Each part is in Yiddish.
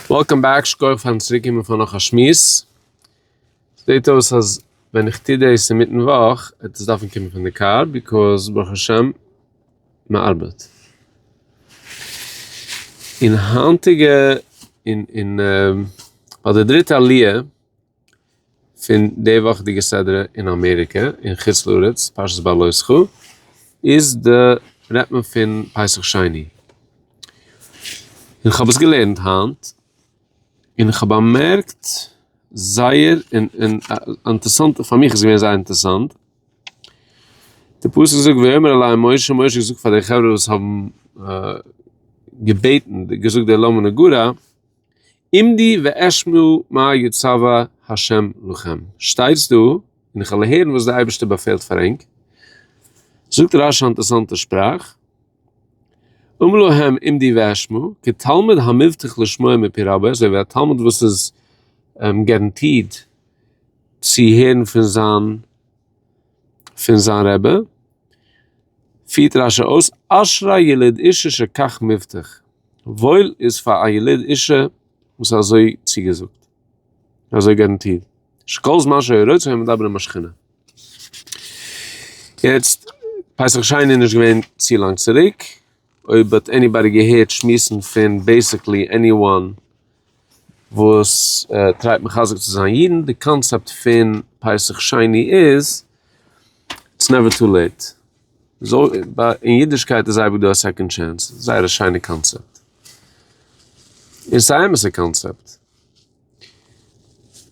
וועלקאם בעק, שכוח פארן צוריק קומען פאר נאך א שמועס. זעט אויס אז ווען איך טו דאס אינמיטן וואך וועט עס דארפן קומען פון די קאר, ביקאוז ברוך השם מען ארבעט. און היינטיגע, און און ביי די דריטע עליה. פון די וואכעדיגע סדרה אין אמעריקע אין חוץ לארץ פרשת בא לא זכור איז די רעדט מען פון פסח שני און כ'האב עס געלערנט היינט און כ'האב באמערקט זייער אינטערסאנט פאר מיך איז געווען זייער אינטערסאנט די פסוק זאגט ויאמר אלי משה, משה האט געזאגט פאר די חברה וואס האבן געבעטן געזאגט די למה נגרע עמדי ואשמע מה יצוה ה' לכם, שטייטס דא און איך וועל הערן וואס דער אייבערשטער באפעלט פאר ענק, זאגט רש י א אינטערעסאנטע שפראך, אמר להם עמדי ואשמע, כתלמיד המבטיח לשמוע מפי רבו, אזוי ווי א תלמיד וואס איז גאראנטירט צו הערן פון זיין. פון זיין רבי, פירט רשי אויס, אשרי יליד אישה שכך מבטיח, וואויל איז פאר א יליד אישה וואס האט אזוי צוגעזאגט, אזוי גאראנטירט, שכל זמן שהיו רוצים היו מדברים עם השכינה. יעצט, פסח שני איז נישט געווען צו לאנג צוריק, אויב האט עניבאדי געהערט שמועסן פון בעיסיקלי עניוואן, וואס טרייט מחזק צו זיין אידן, די קאנצעפט פון פסח שני איז, איטס נעווער טו לעיט, אין אידישקייט איז אייביג דא א סעקאנד טשענס, זייער א שיינע קאנצעפט, און ס'איז א אמת'ע קאנצעפט,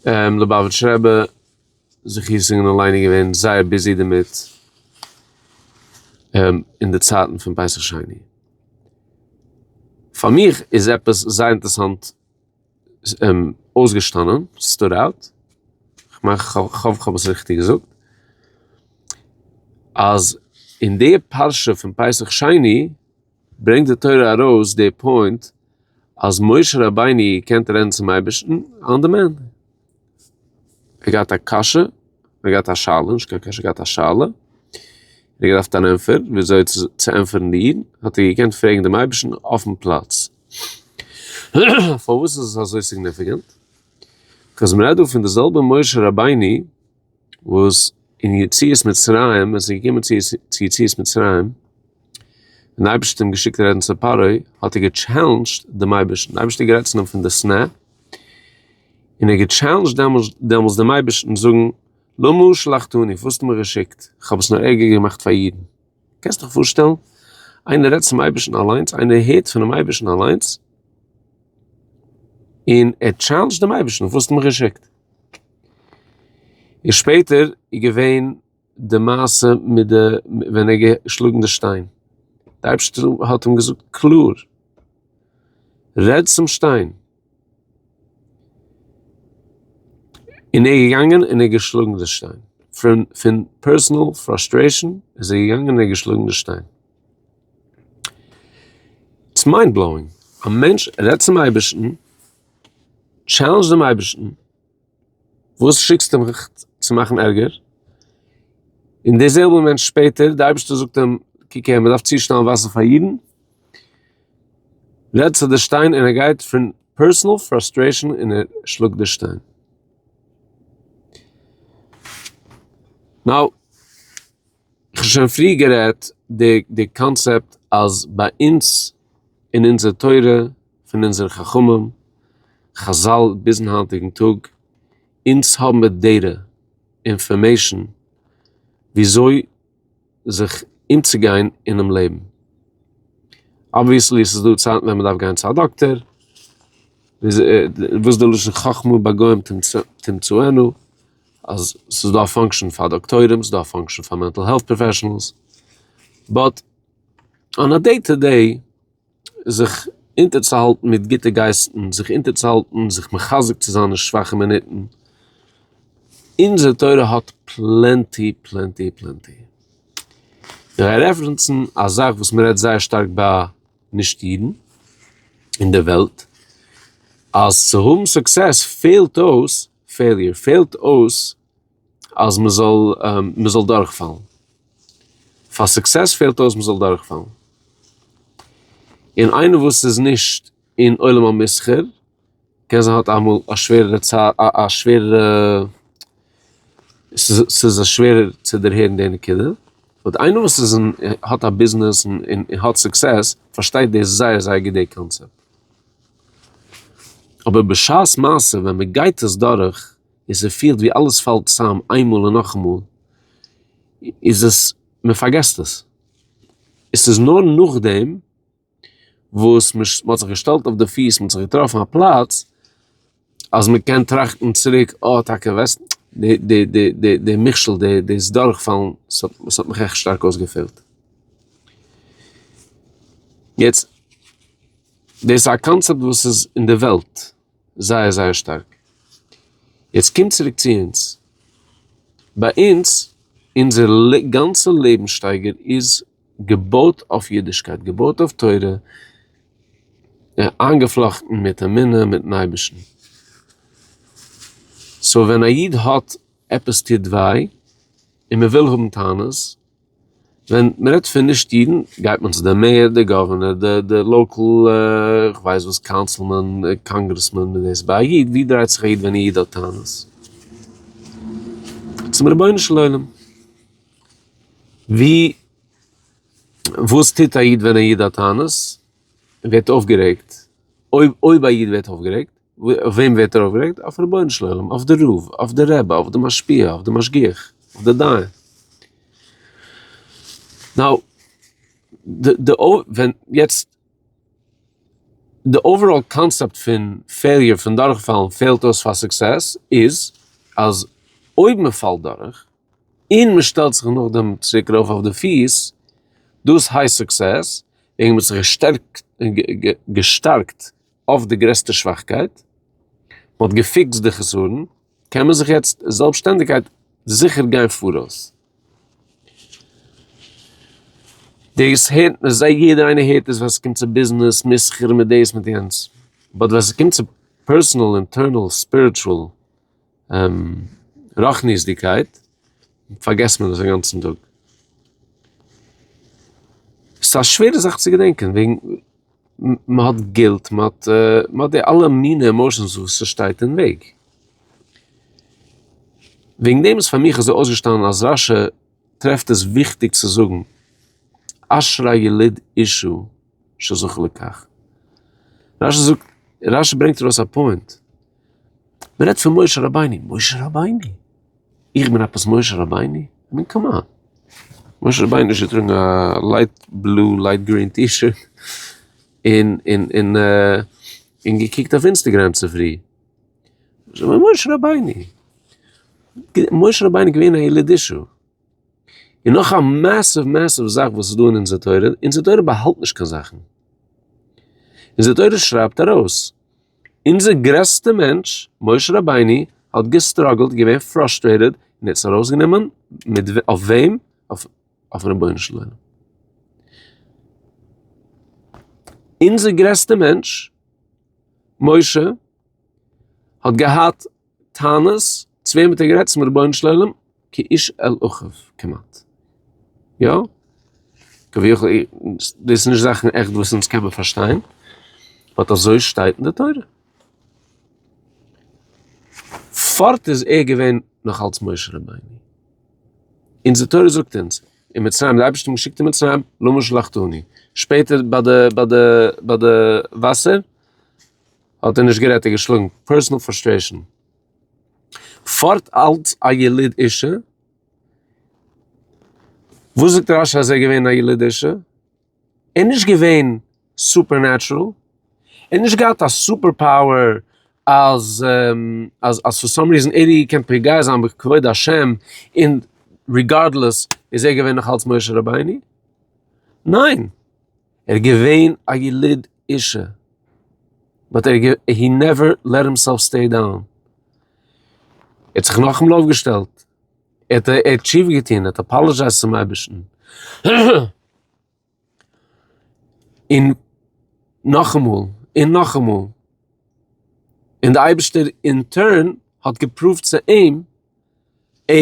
ליובאוויטש רבי. זיך אינזינגען און ליינען געווען זייער ביזי דערמיט אין די צייטן פון פסח שני. פאר מיך איז עפעס זייער אינטערעסאנט אויסגעשטאנען, סטוד אוט, כ'מיין כ'האף כ'האב עס ריכטיג געזאגט, אז אין די פרשה פון פסח שני, ברענגט די תורה ארויס די פוינט אז משה רבינו קען רעדן צום אייבערשטן אן די מענטש. ער האט געהאט א קשיא, ער האט געהאט א שאלה, נישט קיין קשיא, ער האט געהאט א שאלה, און ער האט געדארפט אן ענטפער ווי אזוי צו ענטפערן איר, האט ער געקענט פרעגן דעם אייבערשטן אויפן פלאץ. פארוואס איז עס אזוי סיגניפיקענט? ביז מען רעדט דא פון די זעלבע משה רבינו, וואס אין יציאת מצרים, ווען עס איז געקומען צו יציאת מצרים, און די אייבערשטער האט אים געשיקט רעדן צו פרעה, האט ער געטשעלענדזשט דעם אייבערשטן, דער אייבערשטער האט גערעדט צו אים פון די שנאה, און ער האט געטשעלענדזשט דעמאלס דעם אייבערשטן זאגן, למה שלחתני, וואס האסטו מיר געשיקט, איך האב עס נאר ערגער געמאכט פאר אידן. קענסט דיך פארשטעלן? איינער רעדט צום אייבערשטן אליינס, איינער הערט פונעם אייבערשטן אליינס, און ער טשעלענדזשט דעם אייבערשטן, וואס האסטו מיך געשיקט? און שפעטער איז געווען די מעשה מיט די, ווען ער האט געשלאגן די שטיין, די אייבערשטער האט אים געזאגט קלאר, רעד צום שטיין. און ער איז געגאנגען און ער האט געשלאגן די שטיין, פון פון פערסענעל פראסטרעישן איז ער געגאנגען און ער האט געשלאגן די שטיין. איטס מיינד בלאואינג, א מענטש רעדט צום אייבערשטן, טשעלענדזשט דעם אייבערשטן, וואס שיקסטו מיך צו מאכן ערגער? און דער זעלבער מענטש שפעטער, די אייבערשטער זאגט אים, קוק הער, מען דארף צושטעלן וואסער פאר אידן, רעדט צו די שטיין און ער גייט פון פערסאנעל פראסטרעישאן און ער שלאגט די שטיין. נאו. כ'האב שוין פריער גערעדט די די קאנצעפט אז ביי אונז אין אונזער תורה פון אונזער חכמים חזל ביזן היינטיגן טאג אונז האבן מיר דעטע אינפארמעישן וויאזוי זיך אומצוגיין אינעם לעבן. אבוויעסלי ס'איז דא צייטן ווען מ'דארף גיין צו א דאקטער, וואס די לשון חכמה ביי גוים תמצאנו. אז ס'איז דא א פאנקשען פאר דאקטוירים, ס'איז דא א פאנקשען פאר מענטל העלט פראפעשענעלס, באט אן א דעי טא דעי זיך אונטערצוהאלטן מיט גוטע גייסטן, זיך אונטערצוהאלטן, זיך מחזק צו זיין אין שוואכע מינוטן, אונזער תורה האט פלענטי פלענטי פלענטי. כ'גיי רעפרענסן א זאך וואס מ'רעדט זייער שטארק ביי נישט אידן אין די וועלט, אז צו האבן סוקסעס פעלט אויס פעיליר פעלט אויס אז מען זאל מען זאל דורכפאלן. פאר סוקסעס פעלט אויס מען זאל דורכפאלן. און איינער וואס איז נישט אין עולם המסחר קען זיין האט אמאל א שווערערע צייט א שווערערע ס'איז שווערער צו דערהערן די נקודה. באט איינער וואס איז אין האט א ביזנעס און האט סוקסעס פארשטייט דאס זייער זייער גוט די קאנצעפט. אבער בשעת מעשה ווען מען גייט עס דורך און ס'פילט ווי אלעס פאלט צוזאם איינמאל און נאכאמאל איז עס מען פארגעסט עס. עס איז נאר נאכדעם וואס מען האט זיך געשטעלט אויף די פיס, מען האט זיך געטראפן א פלאץ, אז מען קען טראכטן צוריק, אה, טאקע וועסט, די, די, די, די, די מכשול, די, דאס דורכפאלן, ס'האט, ס'האט מיך עכט שטארק אויסגעפעלט. יעצט, דאס איז א קאנצעפט וואס איז אין די וועלט זייער זייער שטארק. יעצט קום צוריק צו אונז. ביי אונז, אונזער גאנצע לעבנסשטייגער איז. געבויט אויף אידישקייט, געבויט אויף תורה, און איינגעפלאכטן מיט אמונה מיטן אייבערשטן. סאו ווען א איד האט עפעס טוט וויי און מען וויל האבן טענות, ווען מען רעדט פון נישט אידן גייט מען צו די מעיאר, די גאווערנער, די לאקעל כ'ווייס וואס קאונסילמען, קאנגרעסמען, מיט דאס. ביי א איד, ווי דרייט זיך א איד ווען א איד האט טענות? צום רבונו של עולם. ווי וואס טוט א איד ווען א איד האט טענות און ווערט אויפגערעגט? אויב אויב א איד ווערט אויפגערעגט, אויף וועם ווערט ער אויפגערעגט? אויף רבונו של עולם, אויף די רב, אויף די רבי, אויף די משפיע, אויף די משגיח, אויף די דיין. נאו, די די ווען יעצט די אוועראל קאנסעפט פון פעיליער פון דורכפאלן פעלט אויס פאר סוקסעס איז אז אויב מען פאלט דורך, און מען שטעלט זיך נאכדעם צוריק ארויף אויף די פיס, דאס הייסט סוקסעס, וועגן מען האט זיך געשטערקט געשטארקט אויף די גרעסטע שוואכקייט, מען האט געפיקסט די חסרון, קען מען זיך יעצט זעלבסשטענדיגקייט זיכער גיין פאראויס. דאס הערט מען זיי יעדער איינער הערט עס ווען ס'קומט צו ביזנעס, מסחר, מיט דאס מיט יענץ, באט ווען ס'קומט צו פערסאנעל אינטערנעל ספיריטשועל רחניות'דיגקייט פארגעסט מען דאס אינגאנצן טאג. ס'איז א שווערע זאך צו געדענקען וועגן מען האט גילט מען האט מען האט די אלע מיני עמאושענס וואס ס'שטייט אין וועג. וועגן דעם איז פאר מיך אזוי אויסגעשטאנען אז רשי טרעפט עס וויכטיג צו זאגן אשרי יליד אישו. שזכה לכך. רשי זאגט, רשי ברענגט ארויס א פוינט. מען רעדט פון משה רבינו, משה רבינו? איך בין עפעס משה רבינו? איך מיין קאמאן. משה רבינו איז געטראגן א לייט בלו, לייט גרין טי-שירט, און און און אה, און געקוקט אויף אינסטעגרעם צופרי. משה רבינו? משה רבינו איז געווען א יליד אישו. און נאך א מעסיוו מעסיוו זאך וואס איז דא אין אונזער תורה, אונזער תורה באהאלט נישט קיין זאכן, אונזער תורה שרייבט ארויס, אונזער גרעסטע מענטש משה רבינו האט געסטראגלט געווען פראסטרעיטעד און ער האט עס ארויסגענומען מיט אויף וועם? אויפן רבונו של עולם. אונזער גרעסטע מענטש משה האט געהאט. טענות צו וועם האט ער גערעדט צום רבונו של עולם כאיש אל אחיו כמעט יא כביכול דאס נישט זאכן עכט וואס אונז קען מען פארשטיין באט אזוי שטייט אין די תורה פארט איז ער געווען נאך אלס משה רבינו אין די תורה זאגט אונז אין מצרים די אייבערשטער געשיקט אין מצרים לא משלחתני שפעטער ביי די ביי די ביי די וואסער האט ער נישט גערעדט און געשלאגן, פערסאנעל פראסטרעישאן. פארט אלץ א יליד אישי, וואס זאגט רש י אז ער איז געווען א יליד אישי? ער איז נישט געווען סופער נעטשרעל, ער האט נישט געהאט א סופער פאוער אז אז פאר סאם ריזען ער האט געקענט פוגע זיין בכבוד השם און ריגארדלעס איז ער געווען נאך אלץ משה רבינו, ניין. ער איז געווען א יליד אישי, באט ער הי נעווער לעט הימסעלף סטעי דאון, ער האט זיך נאכאמאל אויפגעשטעלט, ער האט תשובה געטון, ער האט אפאלעזשייזט צום אייבערשטן, און נאכאמאל און נאכאמאל, און די אייבערשטער אין טורן האט געפראווט צו אים, ע.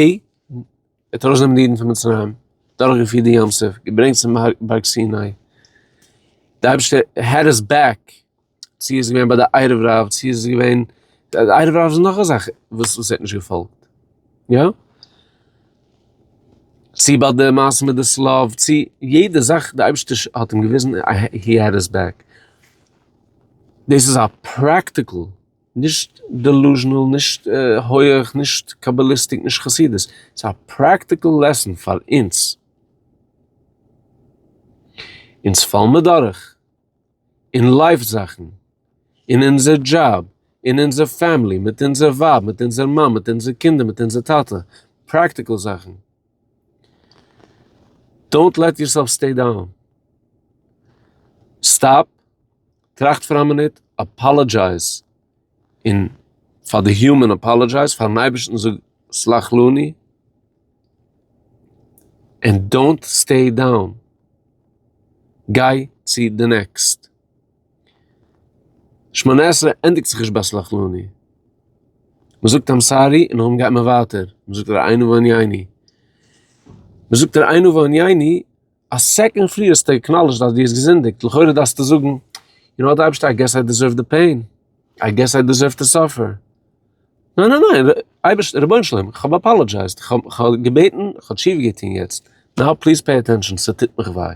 ער האט ארויסגענומען די אידן פון מצרים, דורכגעפירט די ים סוף, געברענגט צום בארג סיני. די אייבערשטער העד איז בעק, צו איז געווען ביי די ערב רב, צו איז געווען, די ערב רב איז נאך א זאך וואס וואס ער האט נישט געפאלגט, יא? צו ביי די מעשה מיט די סלאוו, צו יעדע זאך די אייבערשטער האט אים געוויזן, הי העד היס בעק. דאס איז א פרעקטיקל. נישט דעלוזשענעל, נישט הויעך, נישט קאבאליסטיק, נישט חסידות, ס'איז א פרעקטיקעל לעסן פאר אונז, אונז פאלן מיר דורך אין לייף זאכן, אין אונזער דזשאב, אין אונזער פעמילי, מיט אונזער ווייב, מיט אונזער מאן, מיט אונזער קינדער, מיט אונזער טאטע, פרעקטיקעל זאכן. דאונט לעט יורסעלף סטעי דאון. סטאפ, טראכט פאר א מינוט, אפאלאדזשייז און פאר די הומען אפאלאדזשייז פארן אייבערשטן זאג סלחלוני, און דאונט סטעי דאון. גיי צו די נעקסט. שמונה עשרה ענדיגט זיך נישט ביי סלחלוני. מען זאגט עם סארי און נאכדעם גייט מען ווייטער. מען זאגט דערהיינו וענייני. מען זאגט דערהיינו וענייני, א סעקאנד פריער האסטו עקנאלידזשד אז דו האסט געזינדיגט, לכאורה דארפסטו זאגן, יו נאו וואט אייבערשטער איי געס איי דעזערוו די פעין, איי געס איי דעזערוו טו סאפער. ניין ניין ניין, אייבערשטער, רבונו של עולם, איך האב אפאלאדזשייזד, איך האב געבעטן, איך האב שיף געטון יעצט, נאו פליז פעי עטענטשען, ס'טוט מיך וויי.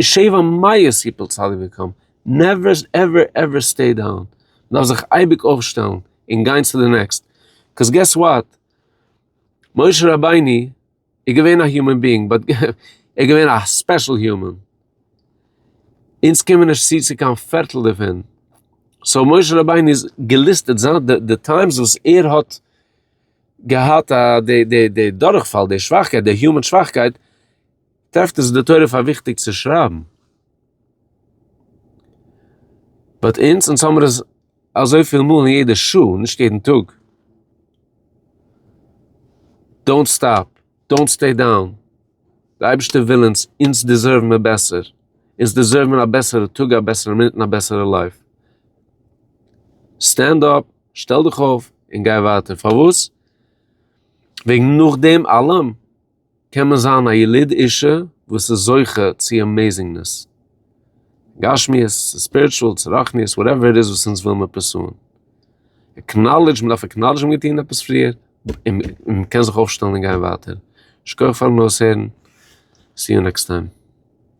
שבע מאות יפול צדיק וקם, נעווער עווער עווער סטעי דאון, מ'דארף זיך אייביג אויפשטעלן און גיין צו די נעקסט, קאוז געס וואט, משה רבינו איז געווען א יומען ביאינג באט ער איז געווען א ספעשל יומען, אונז קומען נישט צו צו קיין פערטל דערפון, סאו משה רבינו איז געליסטעד זיין די די טיימס וואס ער האט געהאט די די די דורכפאל, די שוואכקייט, די יומען שוואכקייט, טרעפט איז די תורה פאר וויכטיג צו שרייבן. באט אונז, אונז האמיר עס אזויפיל מאל אין יעדע שעה, נישט יעדן טאג. דאונט סטאפ, דאונט סטעי דאון. די אייבערשטער וויל אונז, אונז דיזערוו מיר בעסער. אונז דיזערוו מיר א בעסערע טאג, א בעסערע מינוט און א בעסערע לייף. סטענד אפ, שטעל דיך אויף, און גיי ווייטער. פארוואס? וועגן נאכדעם אלעם. קען מען זיין א יליד אישי וואס איז זוכה צו אמעזינגנעס, גשמיות, צו ספיריטשועל, צו רוחניות, וואטעווער איט איז וואס אונז ווילן מיר פורסוען. עקנאלידזש, מען דארף עקנאלידזשן מען האט געטון עפעס פריער, און מען קען זיך אויפשטעלן און גיין ווייטער. שכוח פארן אויסהערן, סי יו נעקסט טיים.